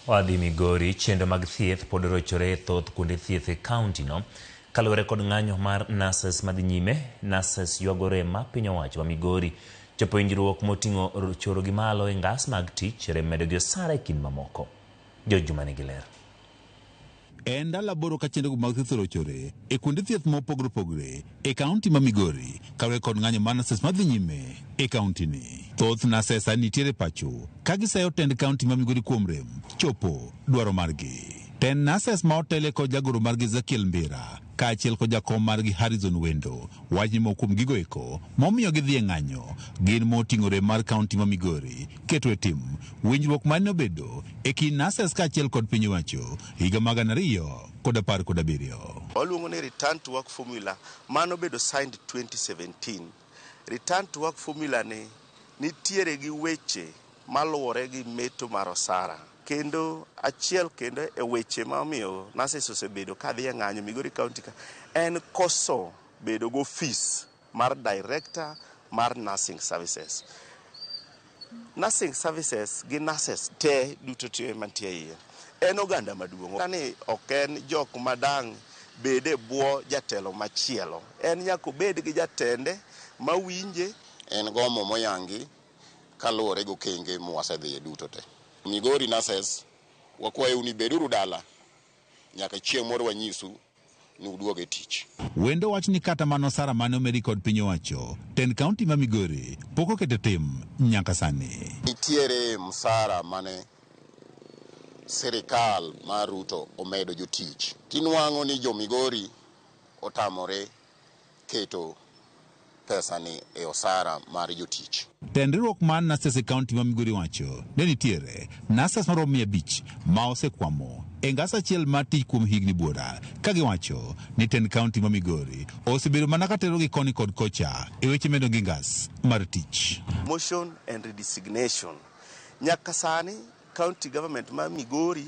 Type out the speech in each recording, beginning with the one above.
Wadhi Migori, Chenro mag thieth pod rochore e thoth kuonde thieth e kaunti no. Kaluwore kod ng'anyo mar nurses madhi nyime, nurses ywago rem ma piny owacho ma Migori chopo winjruok moting'o choro gi malo e ngas mag tich, rem medo gi osara e kind mamoko. George Juma nigi ler. E ndalo aboro ka chenrogo mag thieth orochore e kuonde thieth ma opogore opogore e kaunti ma Migori kaluwore kod ng'anyo mar nases madhi nyime e kauntini. Thoth nases sani nitiere pacho ka gisayo tend kaunti ma Migori kuom rem chopo dwaro margi. Tend nases ma otele kod jagoro margi Ezekiel Mbira kaachiel kod jakom margi Harrison Wendo wach ni moko kuom gigo eko momiyo gidhi e ng'anyo gin moting'o rem mar kaunti ma Migori keto e tim winjruok ma ne obedo e kind nurses kaachiel kod piny owacho higa mag gana ariyo kod apar kod abiriyo. Waluongo ni return to work formula mane obedo signed 2017. Return to Work Formula ni nitiere gi weche maluwore gi meto mar osara. Kendo achiel kendo e weche ma omiyo nurses osebedo ka dhi e ng'anyo Migori County ka en koso bedo gi ofis mar director mar nursing services. Nursing services gi nurses te duto te mantie e iye en oganda maduong'. Kani ok en jok madang' bed e bwo jatelo machielo. En nyaka obed gi jatende mawinje. En gomo moyangi kaluwore gi okenge mwasedhiye duto te. Migori nurses, wakwayou ni beduru dala nyaka chieng' moro wanyisu. ni uduog e tich. Wendo wach ni kata mana osara mane omedi kod piny owacho ten kaunti ma Migori pok oket e tim nyaka sani. Nitiere msara mane sirikal mar Ruto omedo jotich, tinwang'o ni jo Migori otamore keto pesani e osara mar jotich. Tend riwruok mar nurses e kaunti ma Migori wacho ni nitiere nurses maromo mia abich ma osekwamo e ngas achiel mar tich kuom higni buora ka giwacho ni tend kaunti ma Migori osebedo mana ka terogi koni kod kocha e weche medo gi ngas mar tich. Motion and redesignation. Nyaka sani county government ma Migori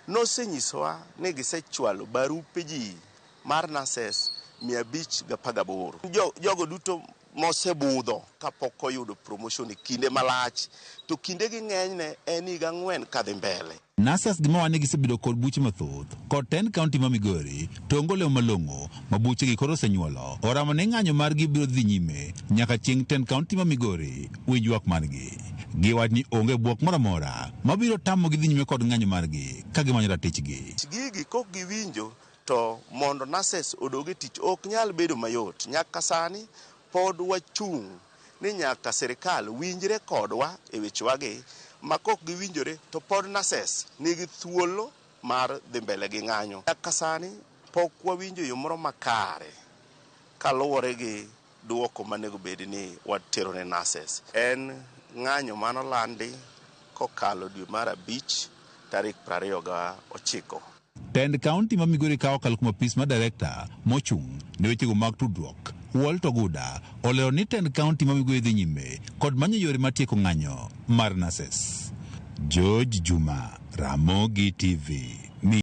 nosenyisowa ni gisechwalo barupe ji Mar nurses mia abich gapar gaboro. Jo, jogo duto mosebudho kapok oyudo promotion e kinde malach to kinde gi ng'enyne en higa ang'wen kadhi mbele. Nurses gi mawane gisebedo kod buche mathoth kod ten county ma Migori to onge olemo malong'o ma buche gi koro osenyuolo oramo ni ng'anyo margi biro dhi nyime nyaka chieng' ten county ma Migori winj ywak margi. Giwach ni onge buok moro amora mabiro tamogi dhi nyime kod ng'anyo margi ka gimanyo ratichgi. Gigi kok giwinjo To mondo nurses odog e tich ok nyal bedo mayot. Nyaka sani pod wachung' ni nyaka sirkal winjre kodwa e wechewagi ma kok giwinjore to pod nurses nigi thuolo mar dhi mbele gi ng'anyo. Nyaka sani pok wawinjo yo moro makare kaluwore gi. Dwoko manego bed ni watero ne nurses en ng'anyo mano landi kokalo dwe mar abich tarik prariyo ga ochiko. Tend kaunti ma Migori ka okalo kuom apis mar Direkta mochung' ne wechego mag tudruok, Walt Oguda olero ni tend kaunti ma Migori dhi nyime kod manyo yore mar tieko ng'anyo mar nurses. George Juma, Ramogi TV.